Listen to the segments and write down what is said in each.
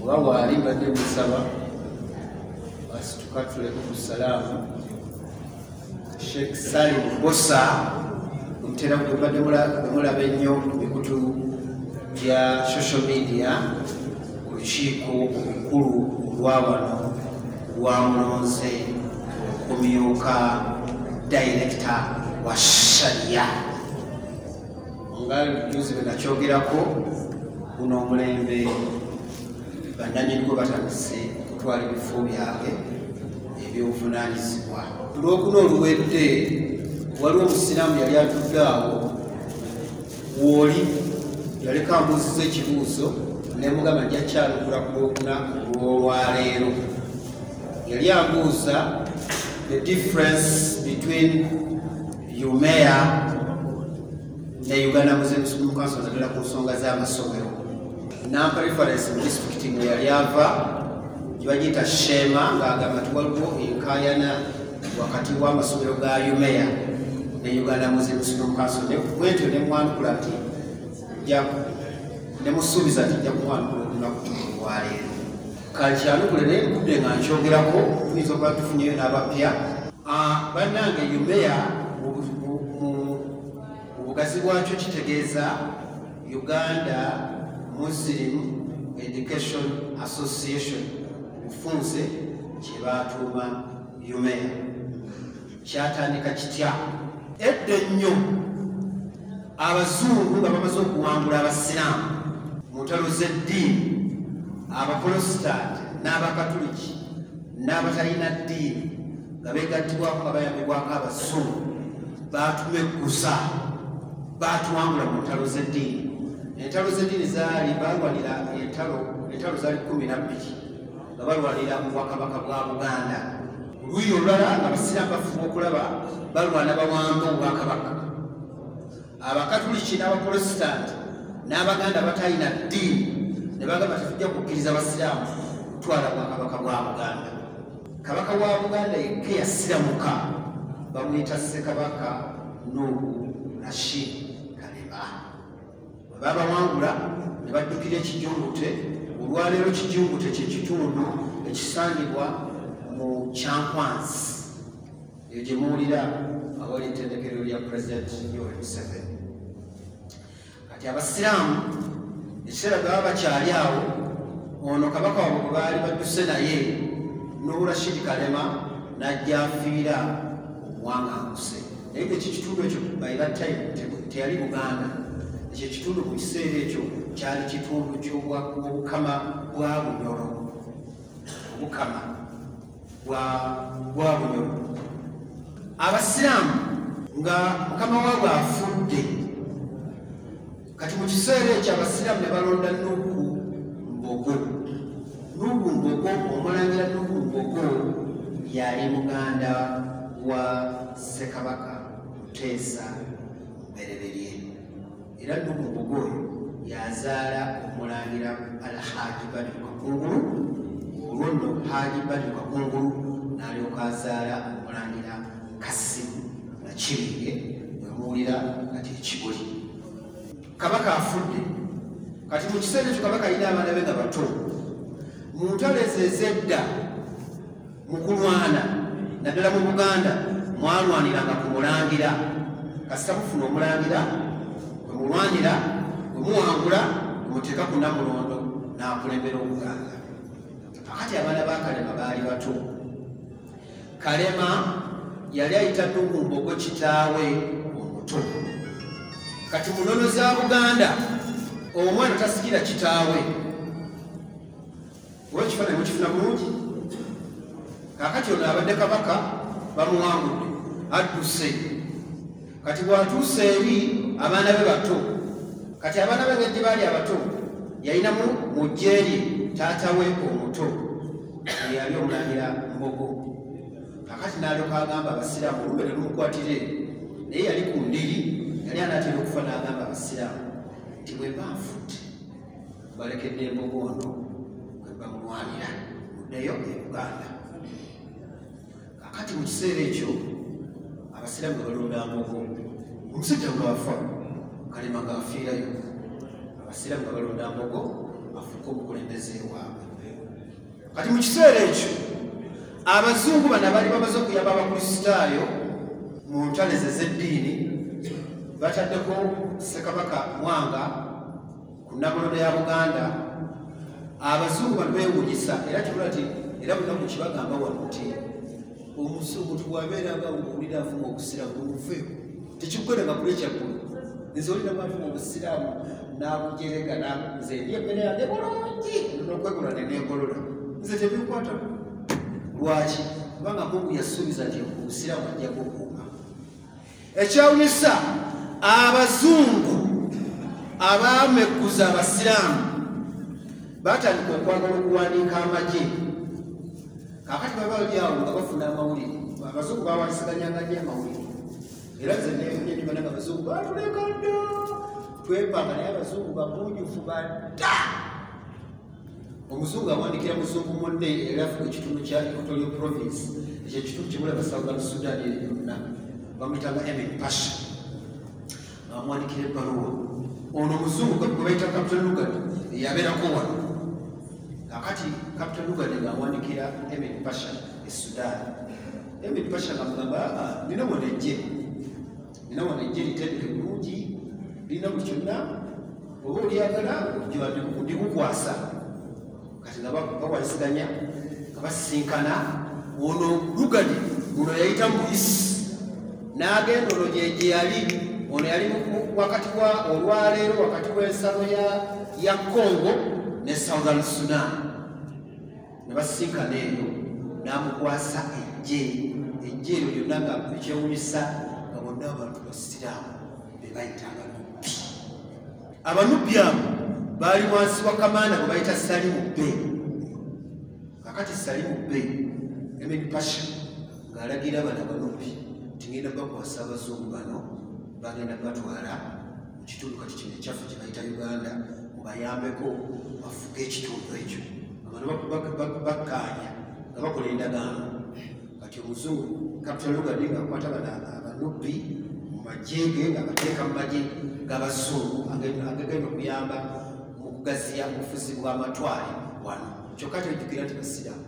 oba waali badde musaba asitukatuleko ku salaamu sheekh salim bosa omutera gwebadde mulaba ennyo ku mikutu gya social media ku lukiiko olukulu olwa wano lwamulonze okumyuka dayirekita wa shariya nga juzi bwe nakyogerako guno omulembe bannanyinigwo batandise okutwala ebifo byabwe ebyobuvunanyizibwa olwokuna oluwedde waliwo omusiraamu yali atudde awo wooli yaleka ambuuziza ekibuuzo nemugamba njakyanukula ku lwokuna olwolwaleero yali ambuuza the difference between umeya ne uganda muslim school council zagala ku nsonga z'amasomero nampa reference mu disitulikiti mwe yali ava gyebagiyita shema ng'agamba ti waliwo enkayana wakati w'amasomero ga umeya ne uganda muslim school council bwentyo ne mwanukula nti ne musuubiza nti jja kumwanukula olunaku olwaleero kakyanukule naye nkudde nga nkyogerako tuyinza okuba tufunyeyo n'abapya ah, bannange umeya mu bugazi bwakyo kitegeeza uganda muslim education association bufunze kye baatuuma umeya kyatandika kitya edda ennyo abazungu nga bamaze okuwangula abasiraamu mu ntalo z'eddiini abapolositaati n'abakatuliki n'abatalina ddiini nga begattibwako nga bayambibwako abazungu baatumeggusa baatuwangula mu ntalo z'eddiini entalo z'eddiini zaali baalwanira entalo entalo zaali kumi na bbiri nga balwanira mu bwakabaka bwa buganda oluuyi olulala abasiraamu bafuba okulaba balwana bawamba obwakabaka abakatuliki n'abapolositanti n'abaganda batalina ddiini ne bagamba tetujja kukkiriza basiraamu kutwala bwakabaka bwa buganda kabaka wa buganda yekka yasiramuka bamuyita ssekabaka nuhu rashid kalema babawangula ne baddukira ekijungute olwaleero kijungute kyekitundu ekisangibwa mu kyankwansi eyo gye muwulira awali ettendekero lya pulezidenti yoweri museveni kati abasiraamu ekiseera bwebaba bakyali awo ono kabaka wabwe gwe baali badduse naye nowurashidi kalema n'ajja afiira omuwanganguse naye ekyo kitundu ekyo era time teyali buganda ekyo kitundu mu kiseera ekyo kyali kitundu kyobukama bwa bunyolo obukama bwa bunyolo abasiraamu nga mukama waabwe afudde kati mu kiseera ekyo abasiraamu ne balonda nuhu mbogo nuhu mbogo omulangira nuhu mbogo yali muganda wa ssekabaka muteesa bereberye era nuhu mbogo oyo yazaala omulangira alhaji bani kakungulu olwo nno haji bani kakungulu nalyoka azaala omulangira kasimu nakibinge wemuwulira kati ekibuli kabaka afudde kati mu kiseera ekyo kabaka alina abaana be nga bato mu ntalo ezo ezedda mu kulwana naddala mu buganda mwalwaniranga ku mulangira kasita mufuna omulangira kwe mulwanira kwe muwangula kwe muteeka ku namulondo n'akulembera obuganda akati abaana bakalema baali bato kalema yali ayita tukumbogo kitaawe omuto kati munono za buganda omwana tasikira kitaawe oba ekifaananyi mukifuna bulungi kakati ono abadde kabaka bamuwangudde adduse kati bwatuuse eri abaana be bato kati abaana be ngeddi baali abato yalinamu mu jjeerye taata we omuto eyali omulangira mbogo kakati nalyoka agamba abasiraamu olumbe ne lumukwatire naye yali ku ndiri yali anatera okufa n'agamba abasiraamu nti bwe banfudde balekedde embogo ono bamulwanira muddeyo e uganda kakati mu kiseera ekyo abasiraamu balonda amoko omusajja bwafa kalema gaafiirayo abasiraamu nga balonda amoko afuuka obukulembeze waabwe kati mu kiseera ekyo abazungu bana bali bamaze okuyamba abakristaayo mu ntaleze z'eddiini bataddeko ssekabaka mwanga ku nnamulondo ya buganda abazungu batwewunyisa era kibula ti era bunaku kibagamba wano ti omuzungu tibwabeeranga owulira avuma obusiraamu obuve tekikukoleka kuli ekyaggulu nze olina bwavuma obusiraamu n'abujerega nze ndi emmere yange bulungi nokwegula nenegolola nze tebikwata lwaki kubanga mungu yasuubiza nti obusiraamu ajja kukuuma ekyewunyisa abazungu abaamekuza abasiraamu batandika okwagala okuwandiika amagye kakati baba bali awo nga bafuna amawulire abazungu bawansiganyanga nyo amawulire era nze nefunye nibananga abazungu batulekadda twepanga naye abazungu bagunjufu bada omuzungu awandikira muzungu munne era afuna ekitundu kya equatorial province ekyo ekitundu kimulaba southern sudan eri yonna bamuyitanga emin pasha amwandikira ebbaluwa ono omuzungu gwebayita captain lugard eyabeerako wano akati captain lugard ngaawandikira emin pasha e sudan emin pasha ngamugamba ah, ah, nina wonejje era wano ejje litendeke bulungi lirina buli kyonna oba olyagala ndikukwasa kati nga bawalisiganya nga basisinkana ono lugani ono yayita muyisi n'agenda ono gyegye yali ono yali wakati wa olwaleero wakati w'ensalo ya congo ne southern sudan ne basisinkana eyo n'amukwasa ejje ejje eryo lyonna nga ekyewunyisa nga bonna abantu basiraamu be bayita abanubbi abanubbi abo baali wansi wa kamaana bwe bayita salimu be kakati salimu be emed pasha ng'alagira bana abanubbi tingenda bakwasa abazungu bano bagenda batwala mu kitundu kati kino ekyaffe kye bayita uganda mubayambeko bafuge ekitundu ekyo abantu bakkaanya nga bakola endagaano kati omuzungu capital lugadi ngaakwata bana abanubbi mu magye ge ngaabateeka mu magye g'abazungu agagenda okuyamba mu kugaziya obufuzi bw'amatwale wano kyokka kyojjukira nti basiraamu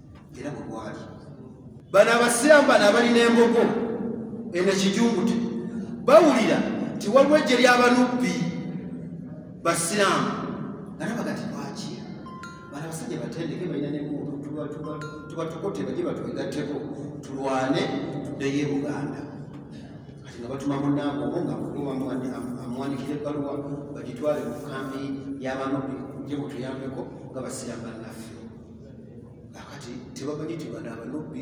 era bwe gwali bano abasiraamu bano abali n'embogo eno ekijungute bawulira nti waliwo ejje ly'abanubbi basiraamu nalaba gati lwaki bano abasajja batendeke balina nemuutu tubatukote baje batwegatteko tulwane tuddeyo e buganda kati nga batuma munaabwe obo nga amwandikira ebbaluwa bagitwale mu kambi y'abanubbi je mutuyambeko nga basiraamu banaffe akati tebamanyi nti bano abanubbi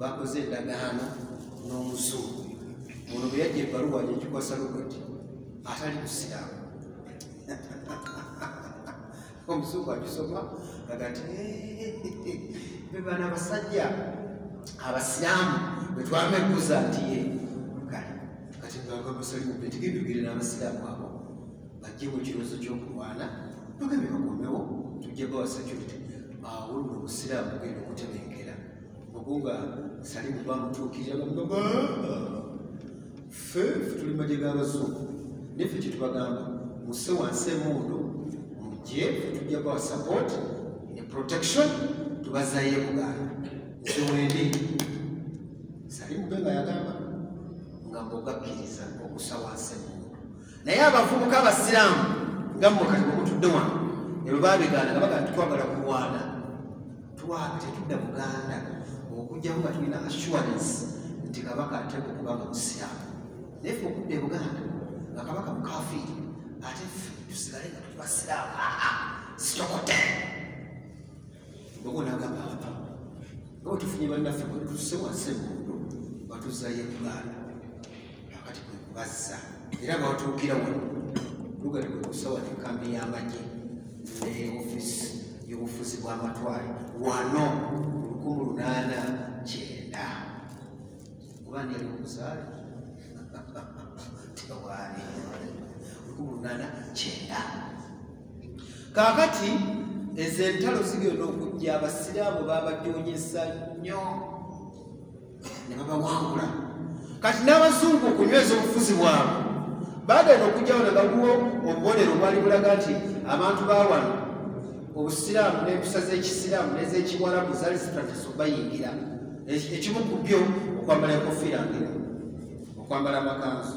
bakoze endagaano n'omuzungu ono bwe yajja ebbaluwa yekikwasa lugati atali musiraamu omuzungu agisoma agati bebana abasajja abasiraamu bwetwamegguza nti ye kati kati ngaga musalimu betigenda ogere n'abasiraamu abo bajje mu kirozo ky'okulwana tugambe bakomewo tujje bawa security awo nno obusiraamu bugenda okutebenkera okuba sali kuba mutuukirira bamugamba ffe ffe tuli maje g'abazungu neffe kye tubagamba muse wansi emundu mujje ffe tujja bawa support ne protection tubazayo ebuganda nze wendi sali mube nga yagamba nga mbogakkiriza okusa wansi emundu naye abavubuka abasiraamu nga mukati mukutudde wano ebyo babigaana nga bagaa titwagala kulwana twaga tetudda buganda okujjamu nga tulina assurance nti kabaka ateeka okuba nga musiraamu naye fe okudda e buganda nga kabaka mukafiiri ate fe tusigale nga tuli basiraamu aa ah, ah, sitokote ogonagamba apa nga wetufunye bannaffe bwetusewasebuudo batuzayo e buganda kati kwe kubazza era bawatuukira wano lugali kwe kusawa enkambi y'amagye ne ofisi y'obufuzi bw'amatwale wano lukumi lunaana kyenda kuba ndi ali omuzaale tewaali lukumi lunaana kyenda kaakati ezo entalo zigenda okujja abasiraamu baabajonyesa nnyo ne babawangula kati n'abazungu okunyweza obufuzi bwabwe bagenda okugyawo ne baguwa obubonero obwali bulaga nti abantu bawano obusiraamu n'empisa z'ekisiraamu n'ezekiwarabu zali zitandise obayingira ekimu ku byo okwambala enkofiira ngero okwambala amakanzu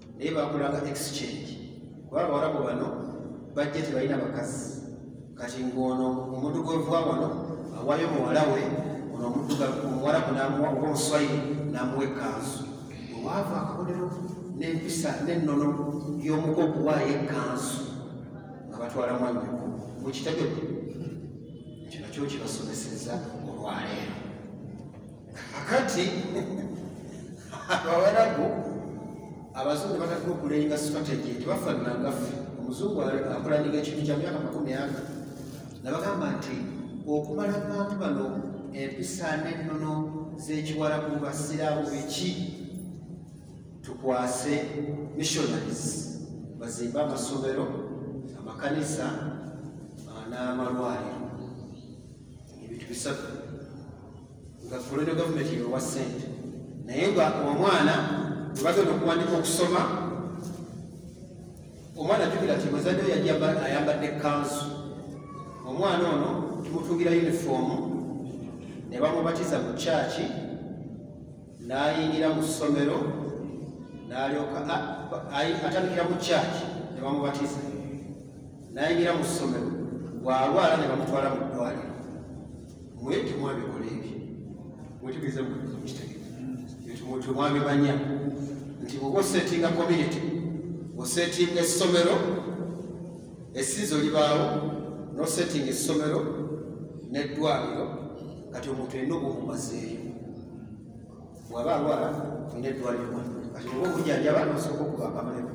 naye bakolanga exchange kuba abawarabu bano bajja tebalina bakazi kati ng'ono omuntu gwevuwa wano awayo muwala we ono omuwarabu namuwa oba omuswayiri namuwa ekanzu wewaava akabonero n'empisa n'ennono y'omuko okuwaayo ekanzu nga batwala mwanyoko mukitegede ekyo nakyo kibasomeseza olwaleero kakati abawarabu abazungu batadde okulenga strategy tebafananagaffe omuzungu akulandiga ekintu kya myaka makumi aga nabagamba nti okumala abantu bano empisa n'ennono z'ekiwarabu basiraamu biki tukwase missionaries bazimbe amasomero amakanisa n'amalwaliro ebintu bisatu nga kolonyo gavumenti yewa ssente naye nga omwana webagenda okuwandika okusoma omwana jukira ti muzadde ayambadde kanzu omwana ono tumutungira yunifoomu ne bamubatiza mu kyaki n'ayingira mu ssomero n'alyoka atandikira mu kyaki ne bamubatiza n'ayingira mu ssomero gwalwala ne bamutwala mu ddwaliro mwe temwabikola ebyo mutegeeza temwabimanya nti oba osetinga community osetinga essomero esiizo libaawo nosetinga essomero neddwaliro kati omuntu erina obumumazeeyo waba alwala olina eddwaliro kati oba obujanjaba nosooka okuba akamulema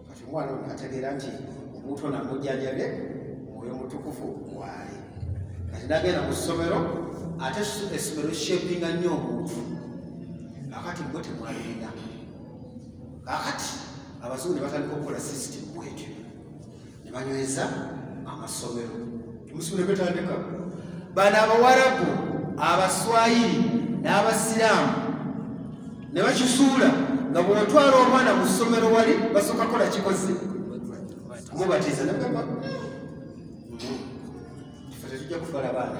kati omwana ono ategeera nti omuntu ono amujjanjabye mwoyo mutukufu waali kati nagenda mu ssomero ate essomero shapinga nnyo omuntu kakati mwe temwalina kakati abazungu ne batandika okukola system bwetyo ne banyweza amasomero musulekwetandikako bano abawarabu abaswayiri n'abasiraamu ne bakisuula nga bwotwala omwana mu ssomero wali basooka kola kikoze mubatiza nagamba tetujja kufala baana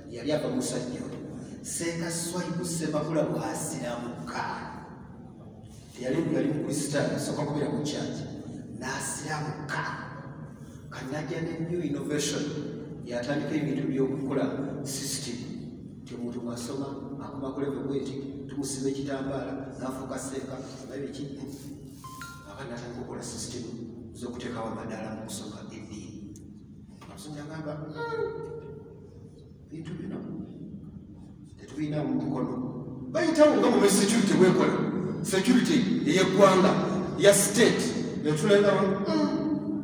yali ava musajja oyo senga swaibu semakula bwasiramuka teyali yali mukristaayo asooka kubeera mu kyaki n'asiramuka kanajja ne new innovation yatandika ebintu byokukola system ti omuntu mwasoma akuma kuleve bweti tumusiba ekitambaala nafuuka seeka oba biki aba natandika okukola system z'okuteekawo amadaala mu kusoma eddiini amusajja agamba hmm, bintu bino tetulina mu mukono bayitawo nga mu security wekola security eyeggwanga ya state netulendawo hmm.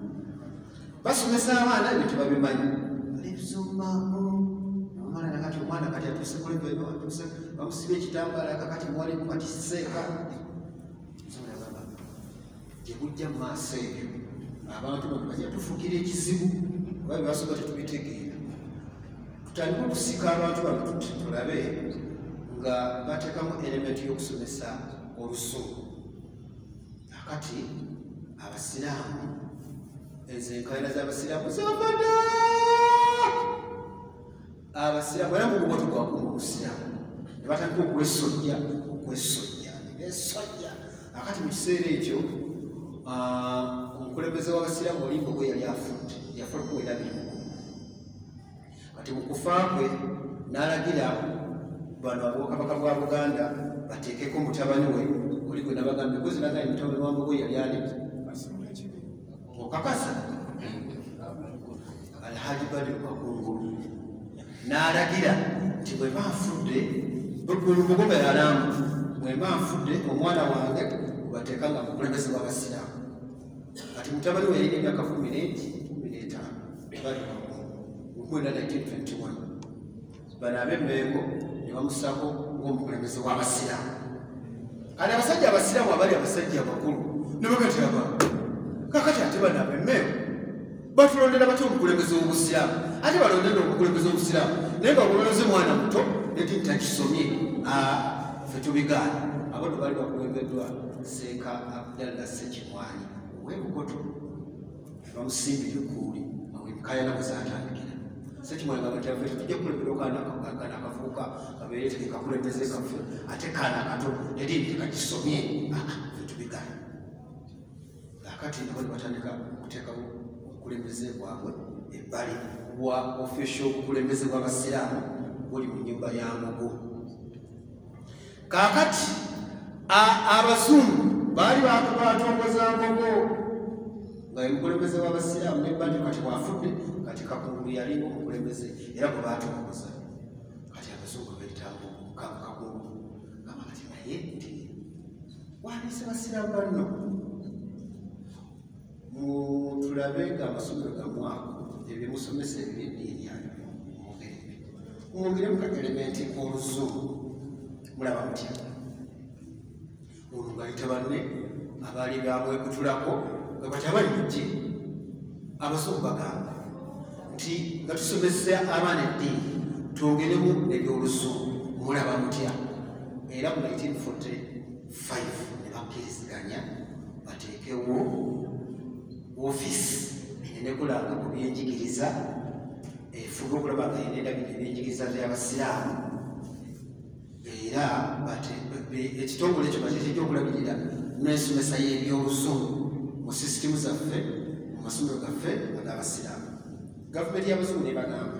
basomesa abaana ebyo tebabimanyi nebizomaamu omwana nakati omwana kati atuse kuleatuse bamusiba ekitambala kakati mwalimu kati seeka gye bujja mu maaso ebyo abantu bano bajja tufuukira ekizibu oba bebasooka tetubitegeera tutandika okusika abantu bano tulabe nga bateekamu elementi y'okusomesa olusuku akati abasiraamu ezo enkaayana z'abasiraamu zibavadde abasiraamu era mugubo tegwakuma obusiraamu ne batandika okwesojja okwesojja nesojja akati mu kiseera ekyo omukulembeze w'abasiraamu olimba ogwe yali afudde yafa kuwera birimu kati mu kufa kwe n'alagira bano abokabaka bwa buganda bateekeko mutabani we oli gwe nabagambye kuzinaga mutabani wa mbogo yali aliki okakasa alhaji bali bakungulu n'alagira nti bwe baafudde bulubugume yalamu bwe baafudde omwana wange bateeka nga mukulembeze w'abasiraamu kati mutabani we yalina emyaka kumi n'etaano bali bakungulu 1921 bano abemmengo ne bamusako ng'omukulembeze w'abasiraamu kati abasajja abasiraamu abali abasajja abakulu ne bagati aba kakati ate bano abemmengo batulondera batya omukulembeze w'obusiraamu ate balondera omukulembeze w'obusiraamu naye nga bulonze mwana muto neti ntakisomye fe tubigaana abo no bali bakulembeddwa seeka abdalla sekimwanyi owebukoto bamusimbi lukuuli kayana bwezatandikira sekimwanga batyafe tujja kukulembera okana kana kafuuka kabeere teke kakulembeze kafe ate kana kato eri nti kakisomye fetubigana akati nabo nebatandika okuteekawo obukulembeze bwabwe ebbali bwa official obukulembeze bw'abasiraamu buli mu nyumba ya mugu kaakati abazungu baali batongoza ngogo nga omukulembeze w'abasiraamu nebanja kati bwafudde kati kakungulu yalinga omukulembeze era gwe batongoza kati abazungu betambo kakakungulu gamba kati naye nti wandise basiraamu banno mutulabe nga amasomero gamwako ebyemusomesa ebyeddiini yanyu mugerebe mwongeremu ka elementi k'oluzungu mulaba mutya olwo ngayita banne abaali bamwekutulako nga bati abali mujje abazungu bagamba nti nga tusomesa abaana eddiini twongeremu ebyoluzungu mulaba mutya era mu 1940 5 ne bakkiriziganya bateekewo ofiisi enekulanga ku byenjigiriza efuba okulaba nga yenedabika ebyenjigiriza byabasiraamu era ekitongole ekyo bakyekijja okulabirira n'ensomesa y'ebyobuzungu mu sisitimu zaffe mu masomero gaffe ag'abasiraamu gavumenti y'abazungu nebagamba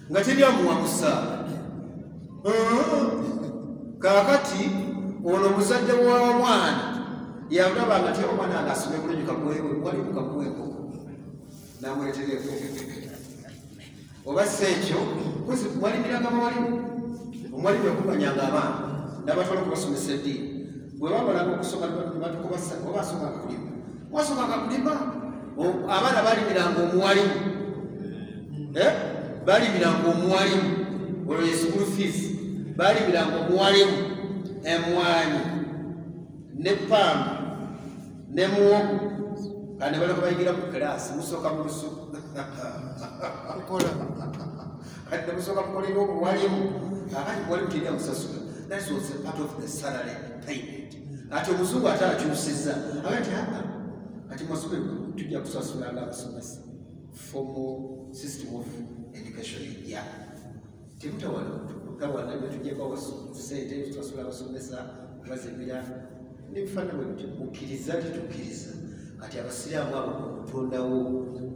nga teri amuwa musaala kakati ono muzadde womwana yagaba nga ti omwana nga asome bulungi kakuwewe wali kukakuweko namuletera ekoko oba si ekyo kozi walimiranga mawalimu omwalimu yakumanyanga abaana nabatwala okubasomesa eddiini bwe bamalanga okusoma batukubaoba asoma akulima wasomaka kulima abaana balimiranga omuwalimu eh? balimiranga omuwalimu olwo yesukulu fees balimiranga omuwalimu emwanyi ne pamba ne muwogo kandi baleka bayigira mu kiraasi musooka mu lusuku kati nemusooka mukolera omuwalimu abali walimu teri amusasula that was a part of the salary payment ati omuzungu ate akyusiza agati aa kati masube tujja kusasula nga abasomesa formal system of education ejja temutawala tawana byetujeko sente tusasula abasomesa bazibira nebifana bwebityo mukkiriza titukkiriza kati abasiraamu abo okutondawo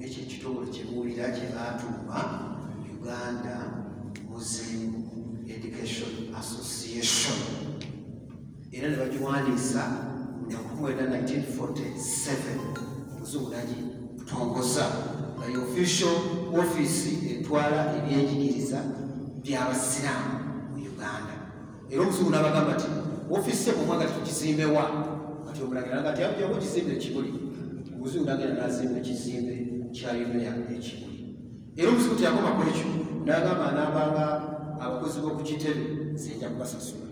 ekyo ekitongole kyebuwulira kyebatuuma uganda muslim education association era ne bagiwandiisa mu nnaku mwenda 1947 omuzungu nagi tongoza nga ye official ofiisi etwala ebyenjigiriza by'abasiraamu mu uganda era omuzungu n'abagamba nti ofiisi emu omwaga tukizimbewa kati omulagira nga ti ajawo ekizimbe ekibuli omuzungu nagenda n'azimba ekizimbe kya yunea ekibuli era omuzibu teyakoma ku ekyo nagamba nabanga abakozi b'oku kitebe zijja kubasasula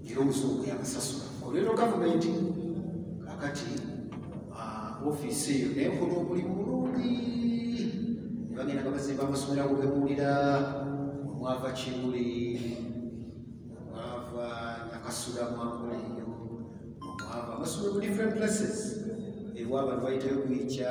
era omusongo yabasasula olwero gavumenti kakati ah, ofiisi eyo nenkola omulimu mulungi ne bagenda nga bazimba amasomero ago gemuwulira mwava kimuli mwava nyakasula mwankola eyo mwava amasomero mu different places ewa abantu bayitayo kuyikya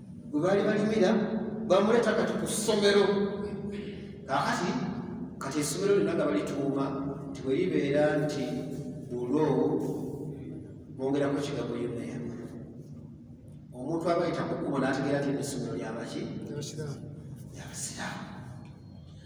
gwe baali balimira bamuleeta kati ku ssomero kakati kati essomero lyonna nga balituuma nti bwe libeera nti bulwo bongerako kigambo yuneya omuntu aba yita ku kkubo n'ategeera nti essomero lyabaki lyabasiraamu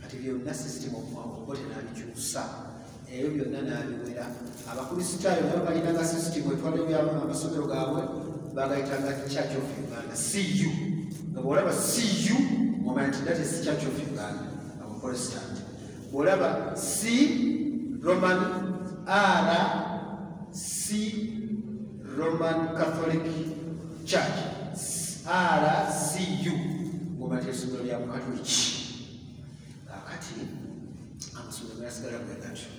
kati byonna sisitimu omuwaokote nabikyusa ebyo byonna nabiwera abakristaayo nabo balinanga sisitimu etwaliwo byabo amasomero gaabwe bagayitanga church of uganda cu nga bwolaba cu omanya nti that is church of uganda abaprotestant bwolaba c roman r c roman catholic church rcu ngobatya essomero lya bukatoliki kakati amasomero gasigala bwe gatyo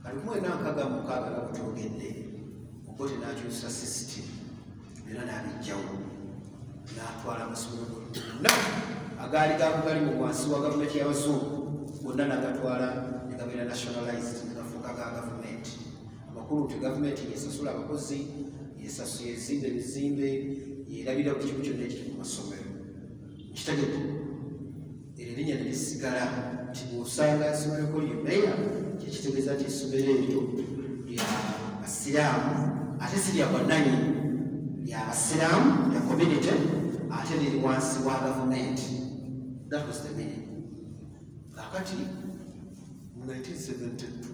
kati kumwena nkaga mukaaga nga butogedde okote nakyusa system era nabijjawo natwala amasomero gonna agaali gakugali mu wansi wa gavumenti yabazungu gonna nagatwala negabeera nationalized amakulu nti gavumenti yesasula abakozi yezimba ebizimbe yerabira ku kimu kyonna ekiri mu masomero kitegeko ero erinnya ne lisigala nti bwosanga esomereko lyomeya kyekitegeeza nti esomero eryo lya basiraamu ate si lya bwananyi lya basiraamu lya community ate liri wansi wa gavumenti that was the meaning kakati mu 1972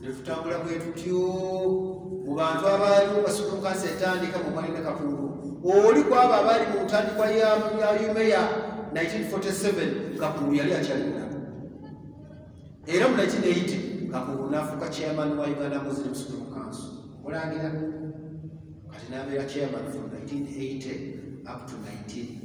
netutambula bwe tutyo mu bantu abaaliwo basulukansi etandika mu mwalina kakundu oli kwabo abaali mu ntandikwa ya yumeya 1947 kakundu yali akyalina era mu 1980 kakundu nafuuka chairman wa uganda muslim sukulu kanso mulangira kati nabeera chairman from 1980 up to 19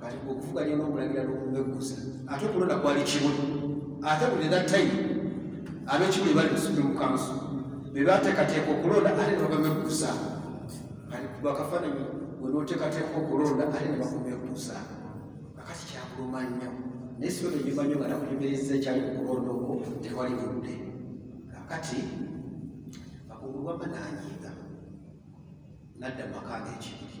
kati okuvuganya n'omulangira n'okumeggusa ate okulonda kwali kimu ate buli era time ab'ekimu ne bali mu supreme council be bateekateeka okulonda ate ne bagameggusa kati bakafaananyi we n'oteekateeka okulonda ate ne bakumeggusa akati kyakuluma nnyo naye siba benyumba nnyo nga nakunyumiriza ekyali mu kulonda okwo tewali budde kakati akugulwama nanyiiga nadda mu maka ag'ekibiri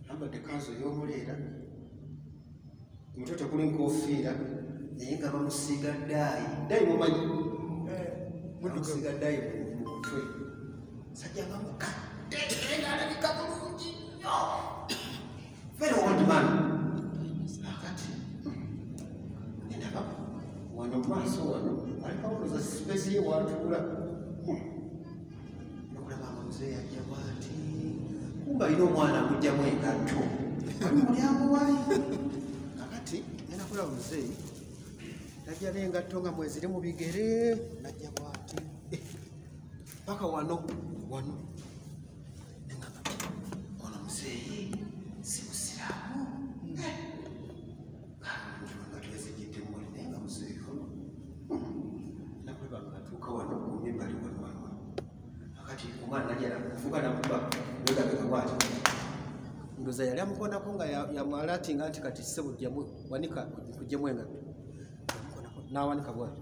ambadde kanzu ey'omuleera ku mutwe tekuli nkofiira naye nga bamusiiga daayi daayi mumanyi eh, bamusiiga daayi mu mutwe sajja nga mukadde era alabika bulungi nnyo very old man akati endaba wano maaso wano alikawoza sipesi ye watuula nokulaba nga muzeeyi ajja bwati kumba alina omwana amugjamu engatto ali mulyango wali kakati ngenda kulaba muzeeyi najja nengatto nga mweziri mu bigere najja bwati eh, paka wano wano ndoza yali amukonako nga yamwala ati nga nti kati sebo wanika kujemu engatto nawanika bwati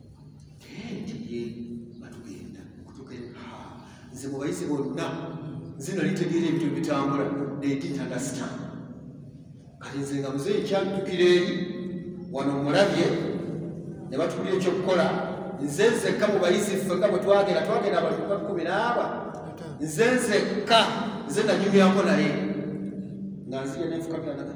nze mubayise bonna nze nali tegeera ebintu ebitambula neditanasita kati nze nga muze ekyajjukira eri wano mulabye ne batubulira ekyokukola nze nzekka mubayise ffeka bwe twagenda twagenda abantu bakumi naaba nze nzekka nze nanyumyako naye nga nzire nenfukamira naga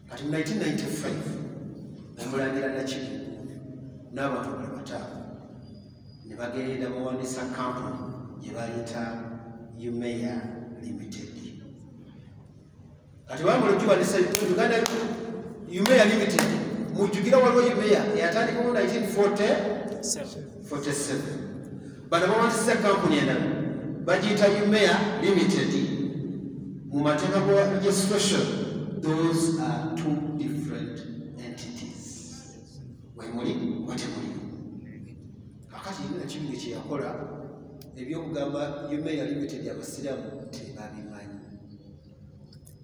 kati mu 1995 namulangira nakimu n'abantu bali bataano ne bagenda bawandisa kampuni gye bayita umeya limited kati bamala okiwandisa uganda umeya limited mujjukira waliwo umeya eyatandikawo 1947 bano bawandisiza kampuni endala bagiyita umea limited mu mateeka ga registration those are two different entities wemuli oba temuli kakati yina kibiga kyeyakola ebyokugamba umea limited abasiramu tebabimanyi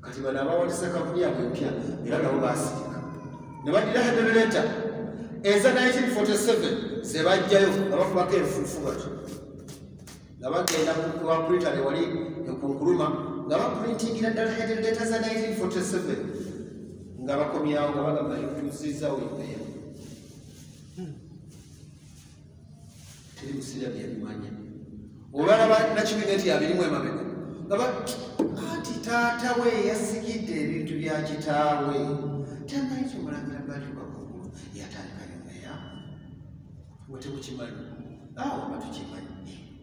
kati bano abawandisa kampuni yabwe empya era nabo baasirika ne badira hedereeta eza 1947 zebajjayo abakubako enfuufu batyo nga bagenda kuwakulita newali ekunkuluma nga bakulintingira ddala hedereeta za 1947 nga bakomyawo nga bagamba etuusizawo embeera teri kusiira byabimanya olwalaba nakibiina nti abirimu emabega ngaba anti taata we yasigidde ebintu bya kitaawe tamanyi kyomulangira batuka kugulu yatandika yomeya wetekukimanyi awo batukimanyi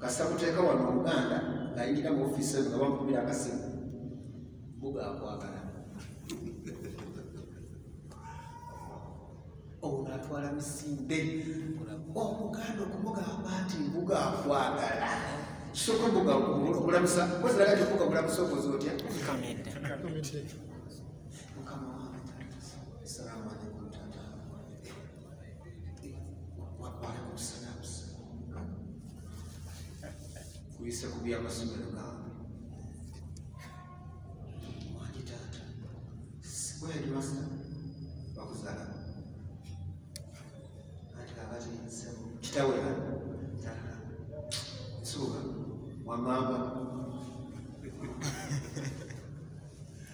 kasita kuteeka wano oluganda ngayingira mu ofiisi eyo nga bamukubira akasimu mbuga akwagala ono atwala misinde omuganda okumugamba nti mbuga akwagala soka mbuga okulamusa koziraga ti mbuga mulamusa okoze otya kuyise ku byamasomero gange wangi taata sikweri basa bakuzala anti kakati nsebo kitawe taata nsuuka wamamba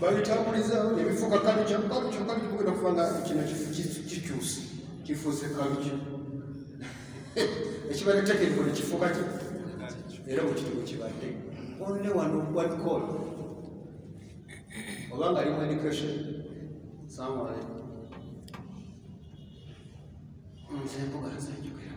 babitambuliza ebifuuka kalukya kalukya kalukya kugenda kuba nga kino kikyusi kifuuse kalukya ekibadde tekeriko nekifuuka ki era bukitibu kibadde only one one call oba nga alimu education samwale nze mbuga nze njogera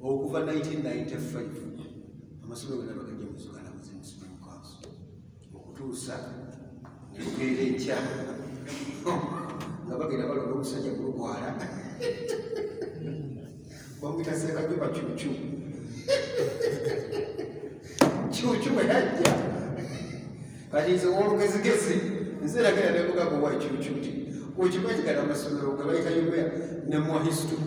okuva 1995 amasomero gona bagajja muzugala muzimu supreme council okutuusa nebukeera enkya nga bagenda balonda omusajja gulukwala bamwita sekajuba cucu cucu bwe yajja kati nze olugezigezi nze nagenda nemugamba wa cucu nti okimanyi gana amasomero nga bayita yobea nemwahistory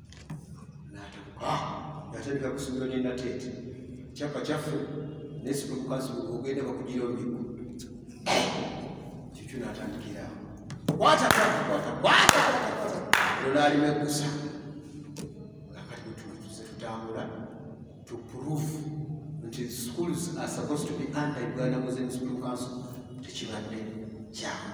yatandika ah, kusomero nenateete kyapa kyaffe nesibukaziogenda bakugira omigo kikyo natandikirawo olwalima egusa akati wetumakize tutambula to prove nti schools are supposed to be under uganda muslim school council tekibadde kyamu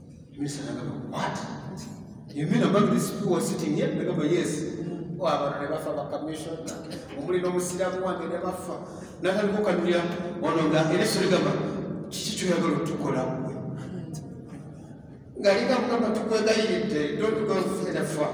Minister nagamba what? You mean among these people who are sitting here? Nagamba yes. Oh, abantu ne bafa ba commission. Omuli n'omusiraamu wange ne bafa. Natandika okukanyulira ono nga era esso ligamba kiki kyoyagala otukola mwe? Nga ligamba kugamba tukwegayiridde don't go further far.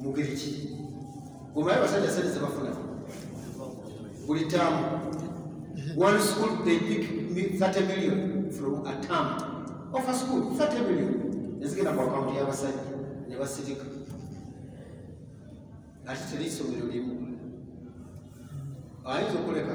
mugeri ki omaye abasajja sente zebafuna buli taamu one school they pick 30 million from a term of a school 30 million ezigenda ku akawunti y'abasajja ne basirika ate teri isomero limu ayinza okuleka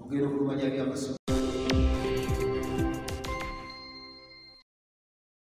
okugenda okulumanya byamasomo